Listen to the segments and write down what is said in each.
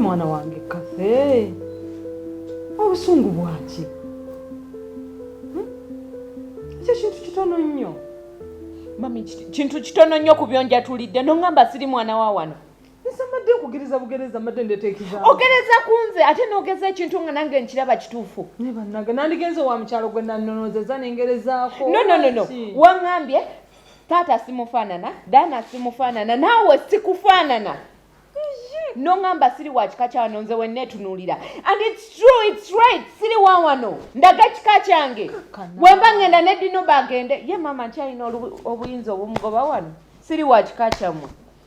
mwana wange kafe obusungu bwaki hmm? ekyo kintu kitono nnyo mami kintu kitono nnyo ku byonjatulidde nongamba siri mwana wa wano nsamadde okugiriza bugereza madde ndeteekiza ogereza kunze ate nogeza ekintu nga nange nkiraba kituufu ne bannage nandigenze wa mukyalo gwe nanonozeza nengerezaako no no no no wangambye taata simufaanana daana simufaanana naawe sikufaanana nongamba siri wa kika kyawano nze wenetunulira and its true its right siri wawano ndaga kika kyange wemba ngenda nedino bagende ye mama nkyalina obuyinza obumugoba wano siri wa kika kyamwe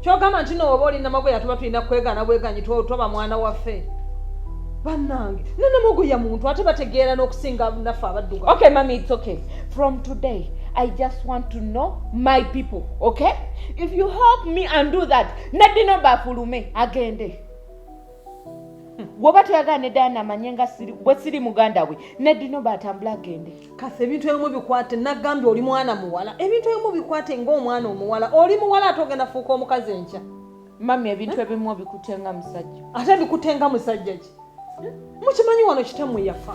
kyogamba nti nooba oli namagoya tuba tulina kwegana bweganyi toba mwana waffe banange nanamagoya muntu ate bategeera n'okusinga naffe abadduga okay mami it's okay from today i just want to know my people okay if you help me and do that nadino bafulume agende woba toyagala ne dana amanye nga bwe siri muganda we nedino batambula agende kasi ebintu ebimu bikwate nagambye oli mwana muwala ebintu ebimu bikwate ngaomwana omuwala oli muwala ate ogenda fuuka omukazi enkya mami ebintu ebimu obikutenga musajja ate bikutenga musajja ki mukimanyi wano kitamwe yafa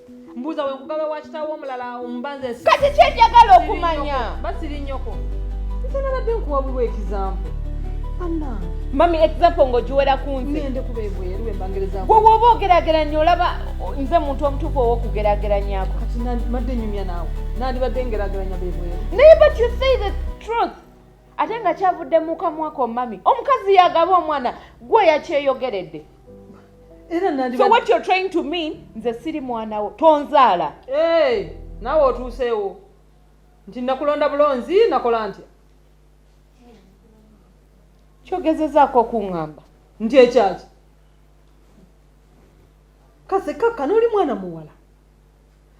mbuuza we kugabe wa kitaawo omulala omubanza esi kati kyenjagala okumanya basiri nnyoko nze nabadde nkuwabulwa ekizampo banange mami example ng'ogiwera ku nzegwewooba ogerageranya olaba nze muntu omutuufu owokugerageranyako madde nyumya naawe nandibadde ngerageranya bebweru naye but you say the truth ate nga kyavudde mu kamwako mami omukazi yagaba omwana gwe yakyeyogeredde so what you're trying to mean nze siri mwana wo tonzaala hey, nawe otuuseewo nti nakulonda bulonzi nakola ntya kyogezezaako okuŋŋamba nti ekyaki kase kakkana oli mwana muwala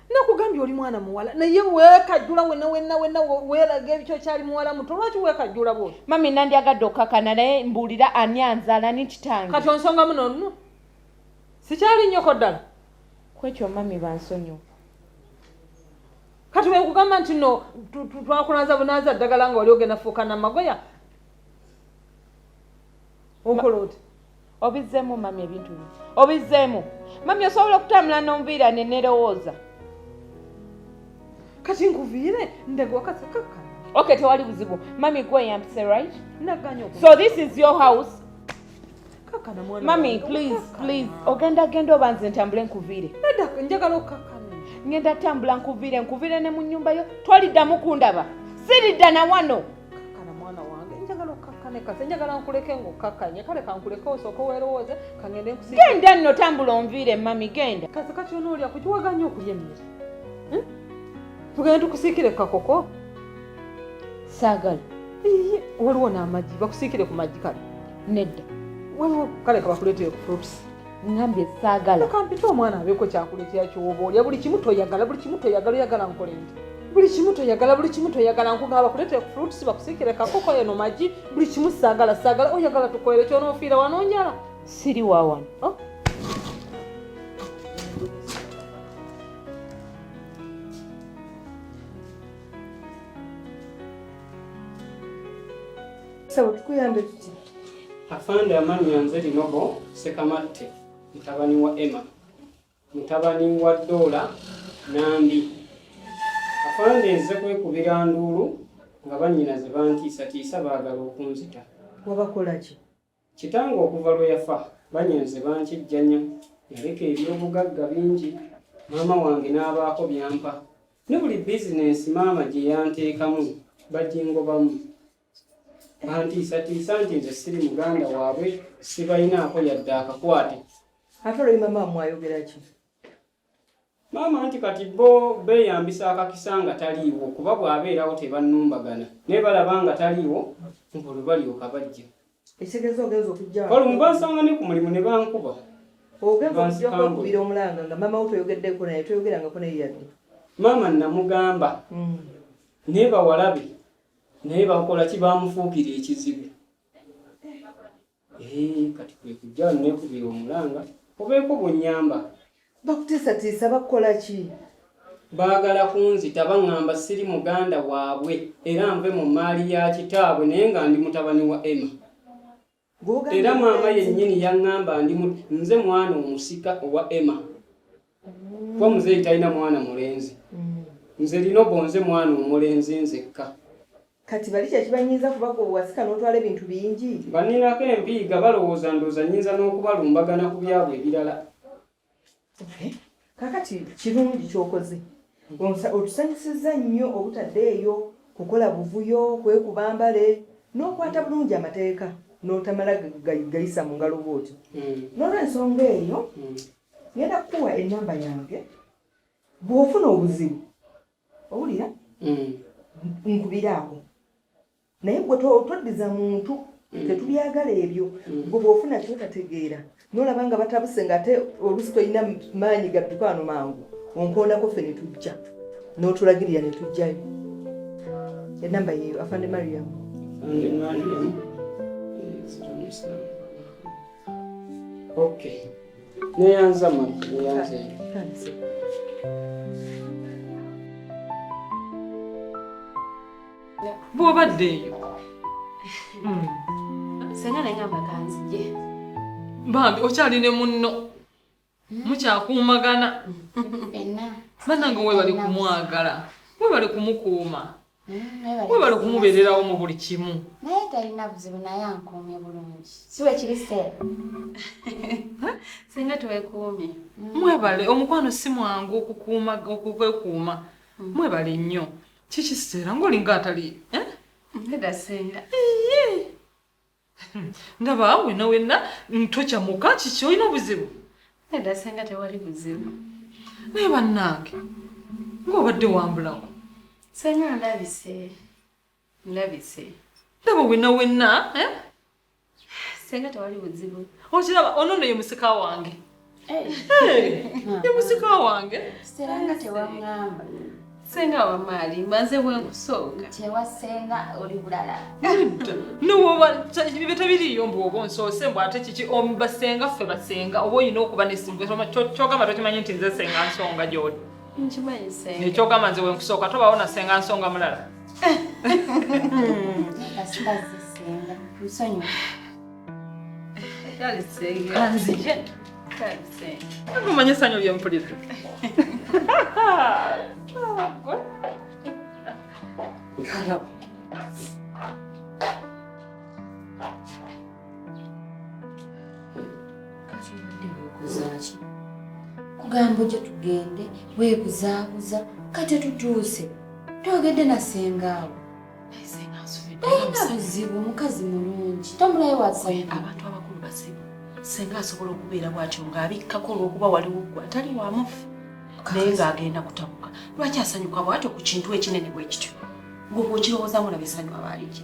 nakugambye oli mwana muwala naye wekajula wena wena wena welaga ebikyo kyali muwala muto lwaki wekajula bwo mami nandi agadde okukakana naye mbuulira ani anzaala ni kitange kati onsonga muno nno sikyali nnyoko ddala kwekyo mami bansonyiwa kati wekugamba nti no twakulanza bunanza ddagala nga wali ogenda fuuka namagoya okola oti obizzemu mami ebintu bino obizzemu mami osobola okutambula n'omuviira ne nerowooza kati nkuviire ndegwakasakaka okay tewali buzibu mami gwe yampise right naganya so this is your house kakana mwana mami please please ogenda genda oba nze ntambule nkuviire njagala okukakana ngenda tambula nkuviire nkuviire ne mu nnyumba yo toliddamu kundaba siridda na wano kakkana mwana wange njagala okkakkane kase njagala nkuleke ng'okkakkanye kale kankuleke osooka owerowooze kangende nkusi genda nno tambula onviire mami genda kase kati onoolya kukiwaganya okulya emmere hmm? tugende tukusiikire kakoko saagala waliwo n'amagi bakusiikire ku magi kale nedda waliwo kale kabakuleetere ku fruits ngambye saagala kampita omwana abeeko kyakuletera kyoba olya buli kimu toyagala buli kimu toyagala oyagala nkole nti buli kimu toyagala buli kimu toyagala nkugamba bakuletere ku fruits bakusikire kakoko eno magi buli kimu saagala saagala oyagala tukolere kyonofiira wanonjala siri wawano oh. Sawa, tukuyambe tuti. Afande amannya nze Linobo Sekamatte mutabani wa Emma mutabani wa Doola Nambi. Afande nze kwekubira nduulu nga bannyinaze bantiisatiisa baagala okunzita. Wabakola ki? Kitange okuva lwe yafa bannyinaze bankijjanya yaleka ebyobugagga bingi maama wange n'abaako byampa ne buli bizinensi maama gye yanteekamu bagingobamu antiisatiisa nti nze siri muganda waabwe sibalinaako yadde akakwate ate oloi mama wamwayogeraki maama nti kati bo beeyambisa akakisa nga taliiwo kuba bw'abeerawo tebannumbagana naye balaba nga taliiwo nga olwo balyoka bajja ekitegeeza ogenza okujja olumu bansanga ne ku mulimu ne bankuba ogenza okujja kwekubira omulanga nga maama wo toyogeddeko naye toyogerangako naye yadde maama namugamba mm. naye bawalabe naye bakola ki bamufuukira ekizibu eh, kati kwekujja nekubira omulanga obeeko bunyamba bakuteesatiisa bakukola ki baagala kunzita baŋŋamba siri muganda waabwe era nve mu mmaali ya kitaabwe naye nga ndi mutabani wa emma era maama yennyini yaŋŋamba ndi nze mwana omusika owa emma kuba muzeeyi talina mwana mulenzi mm. nze lino bonze mwana omulenzi nzekka kati bali kyekibanyiiza kuba gwe wasika n'otwala ebintu bingi baninako empiiga balowooza ndooza nyinza n'okubalumbagana ku byabwe ebirala kakati kirungi kyokoze otusanyusizza nnyo obutaddeeyo kukola buvuyo kwekuba mbale n'okwata bulungi amateeka n'otamala gayisa mu ngalo bwoti hmm. n'olwensonga eyo hmm. ngenda kukuwa enamba yange bw'ofuna obuzibu owulira hmm. nkubiraako naye gwe toddiza muntu mm. tetubyagala ebyo mm. gwe bwofuna kyotategeera nolaba nga batabuse nga ate olusi tolina maanyi gadduka ano mangu onkoonako ffe ne tujja n'otulagirira ne tujjayo enamba yeyo afande mariam okay neyanza ma neyanza bw'obadde eyo hmm. senga naye ngamba kanzije bambi okyali ne munno hmm. mukyakuumagana banange webali kumwagala webali kumukuuma hmm, webali kumubeererawo mu buli kimu naye talina buzibu naye ankuumye bulungi siwe kiri seera senga twekuumye mwebale omukwano si mwangu okukuuma okwekuuma mwebale nnyo Kiki sitera ng'olinga ataliiyo eh? Mbega senga. Iye. Ndaba wena wena ntokya muka kiki olina obuzibu? Mbega senga tewali buzibu. Naye bannange ng'obadde wambulawo. Senga ndabise. Ndabise. Ndaba wena wena eh? Senga tewali buzibu. Okiraba ono nno ye musika wange. Ye musika wange. Senga tewangamba. Senga wa mali maze bwenkusooka. Tewa senga oli bulala. Nuwoba bibeta biriyo mbu oba onsoose mbu ate kiki omba senga ffe basenga oba olina okuba nesinga kyogamba tokimanyi nti nze senga nsonga gy'oli. nkimanyi senga ekyogamba nze wenkusooka tobawo nasenga nsonga mulala omanya esanyu lyempulira Hello. kugamba ojo tugende weebuzaabuza kati tutuuse twogedde na sengaawo talina buzibu omukazi mulungi tomulayo wasabantu abakulu bazibu senga asobola okubeera bwatyo ng'abikkako olw'okuba waliwo gwe atali wamufu naye ng'agenda kutabuka lwaki asanyuka bwatyo ku kintu ekinene bwe kityo gwe bwokirowoozamu labe sanyu abaaliki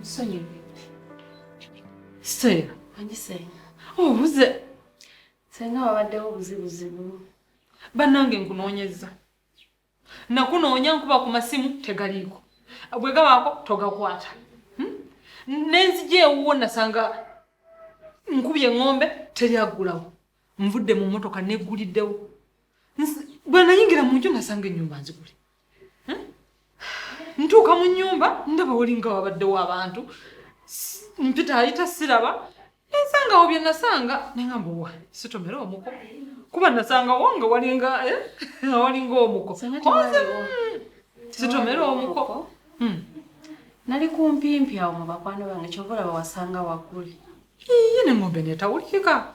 Nsonyiwe. Sera. Anyi senga. Obuze. Oh, senga wabaddewo buzibuzibu. Bannange nkunoonyezza. Nakunoonya nkuba ku masimu tegaliiko. Bwe gabaako togakwata. Hmm? N'enzija ewuwo nasanga nkubye ng'ombe teri aggulawo. nvudde mu mmotoka negguliddewo bwe nayingira mu nju nasanga ennyumba nzigule hm? ntuuka mu nnyumba ndaba walinga wabaddewo abantu mpita ayita siraba nensangawo bye nasanga nengamba owa sitomera omuko kuba nasangawo nga walinga eh? walinga omuko sitomera omuko hm. nali kumpimpi awo mu bakwano bange kyova olaba wasanga waggule Yiyi ne ngombe netawulikika.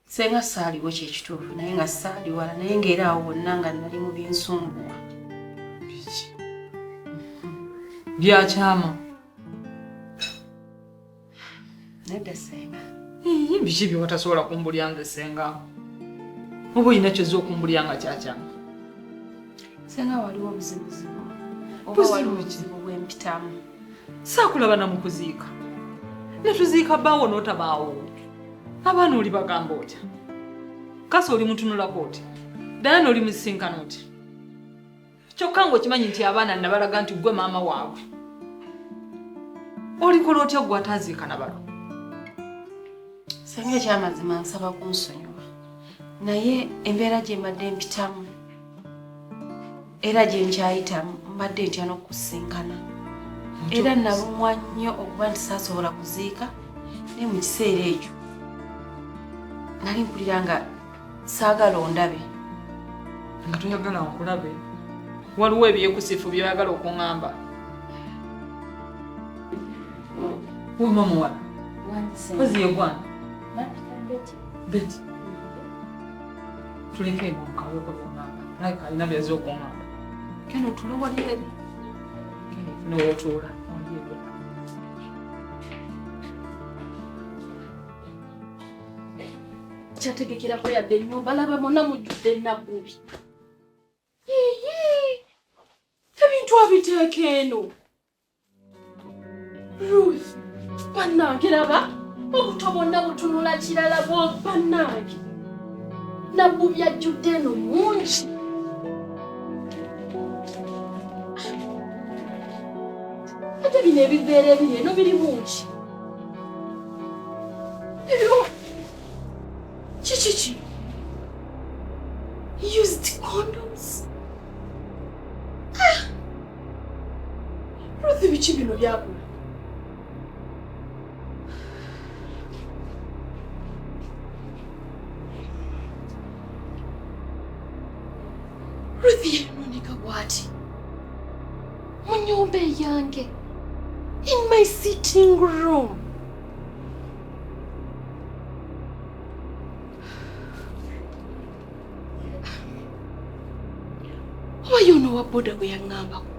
Senga saaliwo kyekituufu naye nga saali wala naye ngaera awo wonna nga nali mu binsumbuwa. Biki? Byakyama. Nedda senga. Yiyi biki byewatasobola kumbulya nze senga. Oba olina kyoza okumbulya nga kyakyama. Senga waliwo obuzibuzibu. Oba waliwo obuzibu bwempitamu. saakulaba na mu kuziika ne tuziika bbaawo n'otabaawo abaana oli bagamba otya kasa oli mutunulako oti dayana oli musisinkana oti kyokka ng'okimanyi nti abaana nabalaga nti ggwe maama waabwe olikola otya ggwe ataaziika na balo senga ekyamazima nsaba kunsonyiwa naye embeera gye mbadde mpitamu era gye nkyayita mbadde ntya n'okusinkana era nalumwa nnyo okuba nti saasobola kuziika naye mu kiseera ekyo nali mpulira nga saagala ondabe nga toyagala nkulabe waliwo ebyekusifu byoyagala okuŋamba wemamuwala ozi yegwana Beti, tuleke ebyo mukaweko byonna naye kalina byaze okungamba keno tule wali eri nowotuula kyategekerako yadde ennyumba laba mona mujjudde ennabubi ebintu abiteeka eno Ruth, bannange laba obuto bwonna butunula kirala bwo bannange nabbu byajjudde eno mungi ate bino ebiveera ebiri eno biri bungi ero kiki ki used condoms Ruth biki bino byakula? Ruth yanonika bwati mu nyumba eyange in my sitting room. oba yoona owa boda bwe yaŋŋambako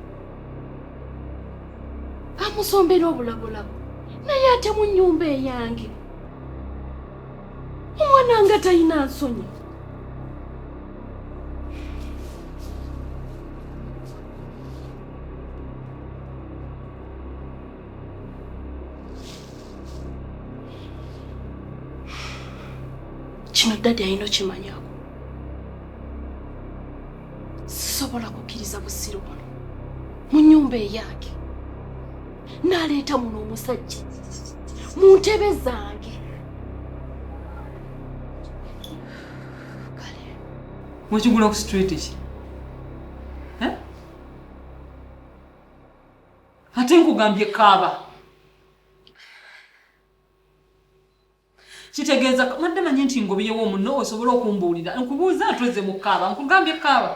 amusombera obulabulabu naye ate mu nnyumba eyange omwana nga talina nsonyi kino ddadi alina okimanyako sisobola kukkiriza busiru buno mu nyumba eyange naleeta muno omusajja mu ntebe zange mwekigula ku street ki ate nkugambye kaaba kitegeeza madde manyi nti ngobiyewo omunno osobola okumbuulira nkubuuza atoze mu kaaba nkugambye kaaba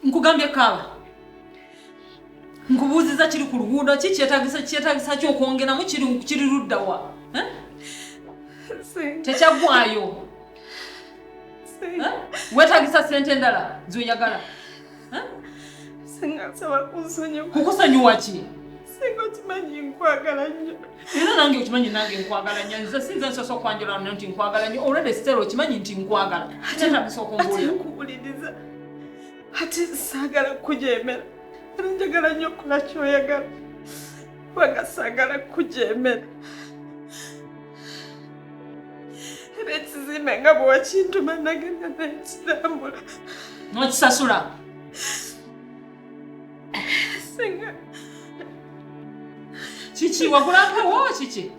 nkugambye kaaba nkubuuziza kiri ku luguudo ki kyetagisa kyetagisa ki okwongeramu kiri ludda wa eh? tekyaggwayo eh? wetagisa sente endala zoyagala eh? kukusonyiwa ki singa okimanyi nkwagala nnyo era nange okimanyi nange nkwagala nnyo nze sinze nsosa okwanjula no nti nkwagala nnyo olwedde sitera okimanyi nti nkwagala kitetabisa okumbuulira ate saagala kukujeemera era njagala nnyo okukola kyoyagala kubanga saagala kukujeemera era ekizimbe nga bwe wakintuma nagenda naye kirambula nokisasula singa kiki wagula mpewo kiki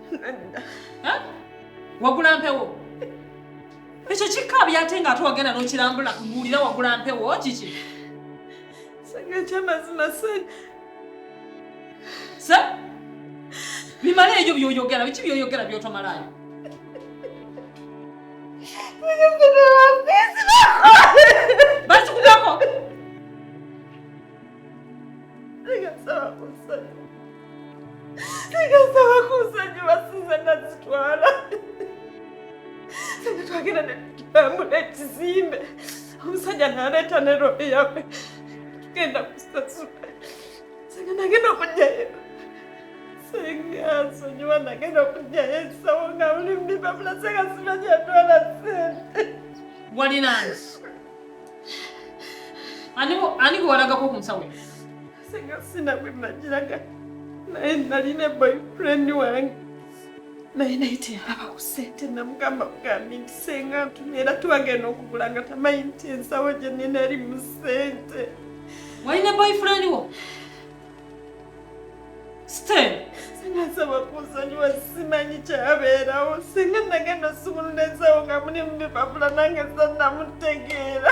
wagula mpewo ekyo kikabya ate nga ate wagenda nokirambula kubuulira wagula mpewo kiki sanga ekyamazima se se bimala ebyo byoyogera biki byoyogera byotomalayo basikugako tegasaba kunsonyiwa sinza nazitwala singa twagenda netutambula ekizimbe omusajja naleeta ne robe yawe tugenda kusasula singa nagenda okujjayo singa nsonyiwa nagenda okujjayo ekisawo nga buli mdipapula singa sina gyatwala sente walinansi ani gwe walagako ku musawo singa sina gwe nagiraga naye nalina boyfriend wange naye naye teyalaba ku sente namugamba bugambi nti senga ntumye era twagenda okugula nga tamanyi nti ensawo gye nina eri mu sente walina boyfriend wo stan sinasaba kunsonyiwa simanyi kyabeerawo singa nagenda osumulula ensawo nga mulimu bipapula nange zanamutegeera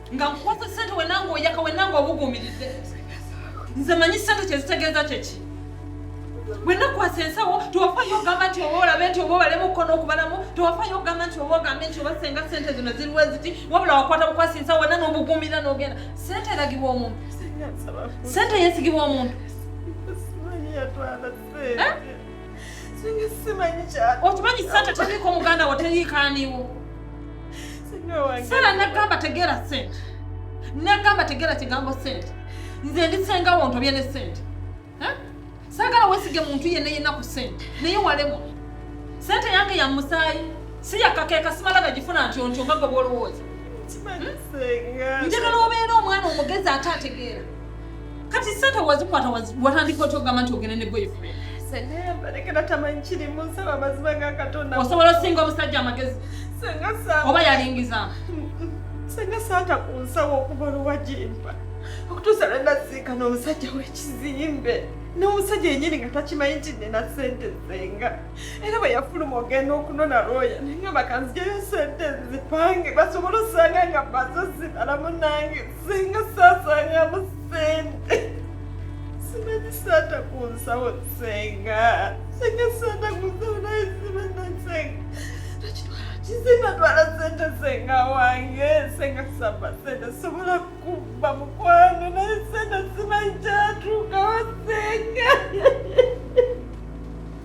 nga nkukwasa sente wenanga oyaka wenanga obuguumirize nze manyi sente kyezitegeeza kyeki bwenakwasa ensawo tewafayo ogamba nti oba olabe nti oba obalemu okukono okubalamu tewafayo ogamba nti oba ogambe nti oba senga sente zino ziriwo eziti wabula wakwata bukwasa ensawo wena nobuguumira nogenda sente eragibwa omuntu sente yesigibwa omuntu okimanyi sente teriiko muganda wo teriikaaniwo sala nagamba tegeera sente nagamba tegeera kigambo sente nze ndi senga wo ntobye ne sente saagala wesige muntu yenna yenna ku sente naye walemu sente yange ya musaayi si yakakeeka simala nagifuna nti ontyo nga gwe bwolowooza njagala obeera omwana omugezi ate ategeera Kati sente wazikwata watandika otya okugamba nti ogende ne boyfriend? Senga balekera tamanyi kirimu nsaba amazima ga Katonda. Osobola osinga omusajja amagezi. Senga saa. Oba yalingiza. Senga saata ku nsawo okuva luwagimpa. Okutuusa lwe naziika n'omusajja w'ekizimbe. n'omusajja yenyini nga takimanyi nti nina sente zenga era bwe yafuluma ogenda okunona looya naye nga bakanzijayo sente nzipange basobole osanga nga bazo zibala munange singa saasangamu sente simanyi saata ku nsawo senga singa saata ku nsawo naye simanyi senga Sinatwala sente senga wange senga kusaba sente sobola kubba mukwano naye sente simanyi kyatuukawo senga